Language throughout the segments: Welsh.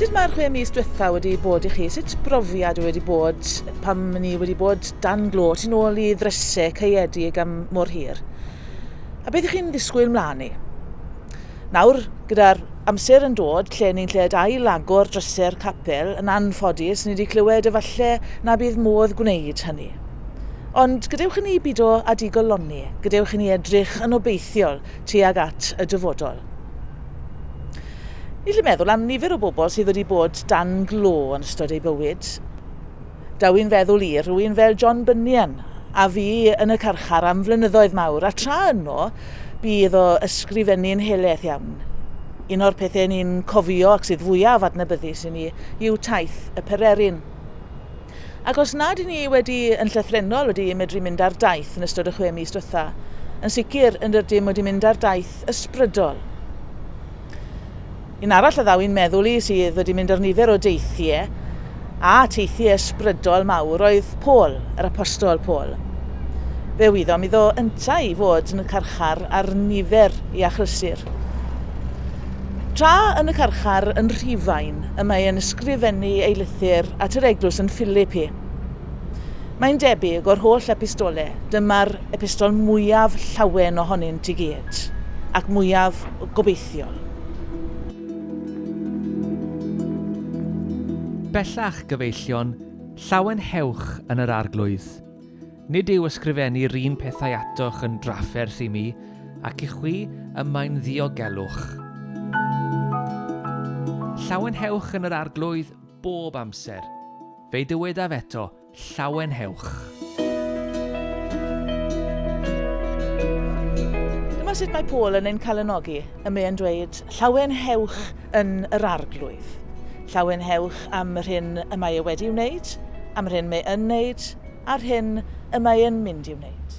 Sut mae'r chwe mis diwetha wedi bod i chi? Sut brofiad wedi bod pam ni wedi bod dan glo ti'n ôl i ddrysau caeedig am mor hir? A beth ych chi'n ddisgwyl mlaen i? Nawr, gyda'r amser yn dod lle ni'n lled ail agor drysau'r capel, yn anffodus, ni wedi clywed efallai na bydd modd gwneud hynny. Ond gadewch i ni bido â digoloni, gadewch i ni edrych yn obeithiol tuag at y dyfodol. Ni'n gallu meddwl am nifer o bobl sydd wedi bod dan glo yn ystod eu bywyd. Daw i'n feddwl i rhywun fel John Bunyan, a fu yn y carchar am flynyddoedd mawr, a tra yno, bu iddo ysgrifennu'n heleth iawn. Un o'r pethau ni'n cofio ac sydd fwyaf adnabyddus i ni yw taith y pererin. Ac os nad 'yn ni wedi, yn llythrennol, wedi medru mynd ar daith yn ystod y chwe mis diwetha', yn sicr yn rydym wedi mynd ar daith ysbrydol. Un arall a ddaw i'n meddwl i sydd wedi mynd ar nifer o deithie, a teithie ysbrydol mawr, oedd Paul, yr Apostol Paul. Fe wyddom iddo yntau i fod yn y carchar ar nifer i achlysur. Tra yn y carchar yn Rhufain y mae e'n ysgrifennu ei lythyr at yr eglwys yn Philippi. Mae'n debyg o'r holl epistole, dyma'r epistol mwyaf llawen ohonynt i gyd, ac mwyaf gobeithiol. Bellach gyfeillion llawen hewch yn yr Arglwydd. Nid yw ysgrifennu'r un pethau atoch yn drafferth i mi, ac i chwi y mae'n ddiogelwch. Llawenhewch yn yr Arglwydd bob amser. Fe'i dywedaf eto, Llawenhewch. Dyma sut mae Paul yn ein calonogi, y mae'n dweud, Llawenhewch yn yr Arglwydd. Llawenhewch am yr hyn y mae e wedi'i wneud, am yr hyn mae yn wneud, a'r hyn y mae yn mynd i'w wneud.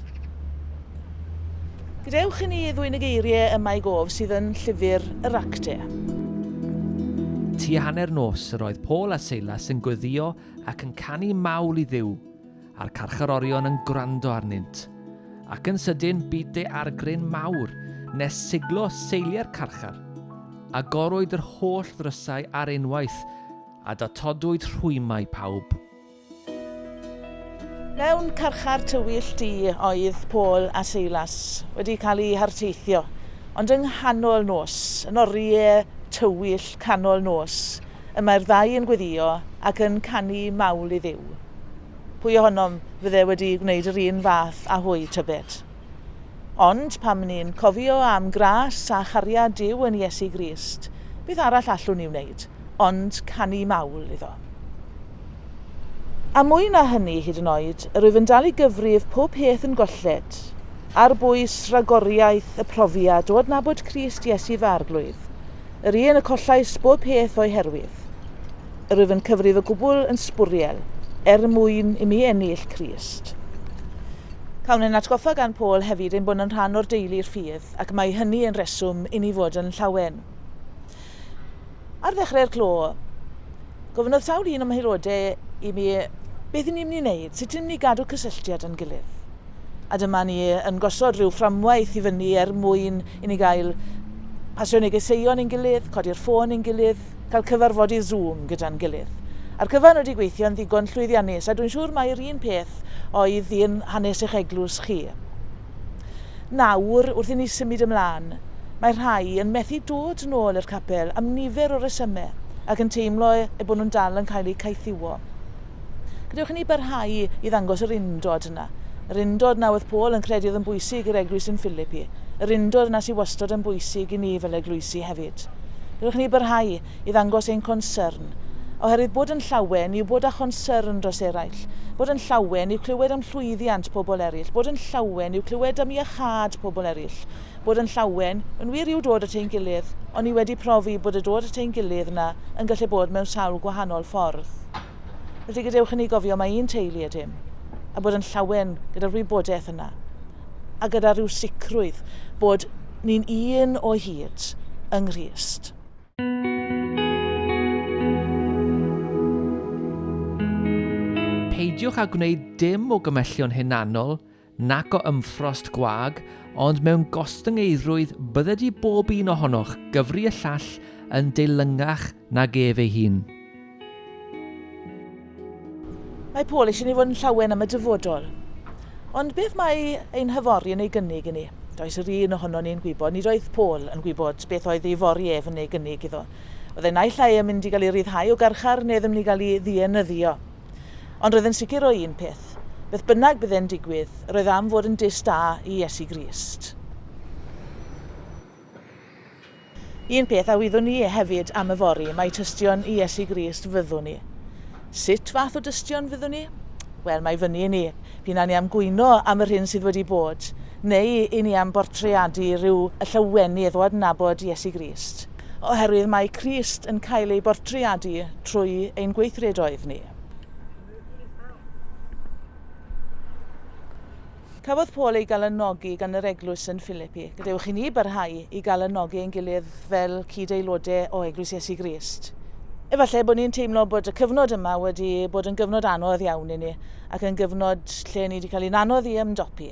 Gadewch i ni ddwyn y geiriau yma i gof sydd yn Llyfr yr Actau. Tua hanner nos yr oedd Paul a Seilas yn gweddïo ac yn canu mawl i Dduw, a'r carcharorion yn gwrando arnynt. Ac yn sydyn bu daeargryn mawr, nes siglo seilie'r carchar. Agorwyd yr holl ddrysau ar unwaith, a datodwyd rhwymau pawb. Mewn carchar tywyll du oedd Paul a Silas wedi cael eu harteithio, ond yng nghanol nos, yn oriau tywyll canol nos, y mae'r ddau yn gweddïo ac yn canu mawl i Dduw. Pwy ohonom fydde wedi gwneud yr un fath â hwy, tybed? Ond pam ni'n cofio am gras a chariad Duw yn Iesu Grist, beth arall allwn ni wneud ond canu mawl iddo? A mwy na hynny hyd yn oed, yr wyf yn dal i gyfrif pob peth yn golled, ar bwys ragoriaeth y profiad o adnabod Crist Iesu fy Arglwydd, yr un y collais bob peth o'i herwydd. rwyf yn cyfrif y gwbl yn sbwriel, er mwyn i mi ennill Crist. Cawn ein atgoffa gan Paul hefyd ein bod yn rhan o'r deulu'r ffydd, ac mae hynny yn reswm i ni fod yn llawen. Ar ddechrau'r clo, gofynnodd sawl un o'm haelodau i mi beth i ni'n mynd i wneud, sut ni'n mynd i gadw cysylltiad yn gilydd. A dyma ni yn gosod rhyw fframwaith i fyny er mwyn i ni gael pasio negeseuon i'n gilydd, codi'r ffôn i'n gilydd, newydd. Cael cyfarfod i Zoom gyda'n gilydd. A'r cyfan wedi gweithio'n ddigon llwyddiannus a dwi'n siŵr mai'r un peth oedd un hanes eich eglwys chi. Nawr, wrth i ni symud ymlaen, mae rhai yn methu dod nôl i'r capel am nifer o resymau ac yn teimlo eu bod nhw'n dal yn cael eu caethiwo. Gadewch i ni barhau i ddangos yr undod yna. Yr undod na oedd Paul yn credu oedd yn bwysig i'r eglwys yn Philippi. Yr undod yna sydd wastod yn bwysig i ni fel eglwysi hefyd. Gadewch i ni barhau i ddangos ein concern. Oherwydd bod yn llawen yw bod â chonsyrn dros eraill. Bod yn llawen yw clywed am llwyddiant pobl eraill. Bod yn llawen yw clywed am iachâd pobl eraill. bod yn llawen, yn wir yw dod at ein gilydd, ond ni wedi profi bod y dod at ein gilydd yna yn gallu bod mewn sawl gwahanol ffordd. Felly gadewch i ni gofio mae un teulu ydym, a bod yn llawen gyda'r wybodaeth yna, a gyda rhyw sicrwydd bod ni'n un o hyd yng Nghrist. Peidiwch â gwneud dim o gymhellion hunanol nac o ymffrost gwag, ond mewn gostyngeidrwydd bydde di bob un ohonoch gyfri y llall yn deilyngach nag ef ei hun. Mae Paul eisiau ni fod yn llawen am y dyfodol. Ond beth mae ein hyfori yn ei gynnig i ni? Does yr un ohono ni'n gwybod, nid oedd Paul yn gwybod beth oedd ei fori ef yn ei gynnig iddo. Oedd e naill ai yn mynd i gael ei ryddhau o garchar neu ddim yn mynd i gael ei ddienyddio. Ond roedd e'n sicr o un peth, beth bynnag bydd e'n digwydd, roedd am fod yn dyst da i Iesu Grist. Un peth a wyddwn ni hefyd am yfory, mae tystion i Iesu Grist fyddwn ni. Sut fath o dystion fyddwn ni? Wel, mae fyny i ni. P'un a ni am gwyno am yr hyn sydd wedi bod, neu i ni am bortreadu rhyw y llawenydd o adnabod Iesu Grist. Oherwydd mae Crist yn cael ei bortreadu trwy ein gweithredoedd ni. Cafodd Paul ei galanogi gan yr eglwys yn Philippi. Gadewch i ni barhau i galanogi ein gilydd fel cyd-aelodau o Eglwys Iesu Grist. Efallai bod ni'n teimlo bod y cyfnod yma wedi bod yn gyfnod anodd iawn i ni, ac yn gyfnod lle ni wedi cael ein anodd i ymdopi.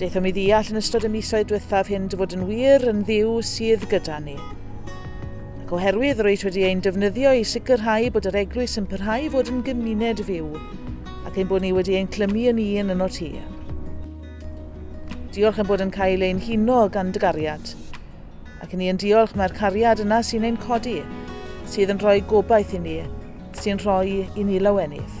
Daethom i ddeall yn ystod y misoedd diwethaf hyn dy fod yn wir yn ddiw sydd gyda ni. Ac oherwydd yr oes wedi ein defnyddio i sicrhau bod yr eglwys yn parhau fod yn gymuned fyw, ac ein bod ni wedi ein clymu yn un yn o ti. Diolch yn bod yn cael ein huno gan dy gariad. Ac ni yn diolch mae'r cariad yna sy'n ein codi, sydd yn rhoi gobaith i ni, sy'n rhoi i ni lawenydd.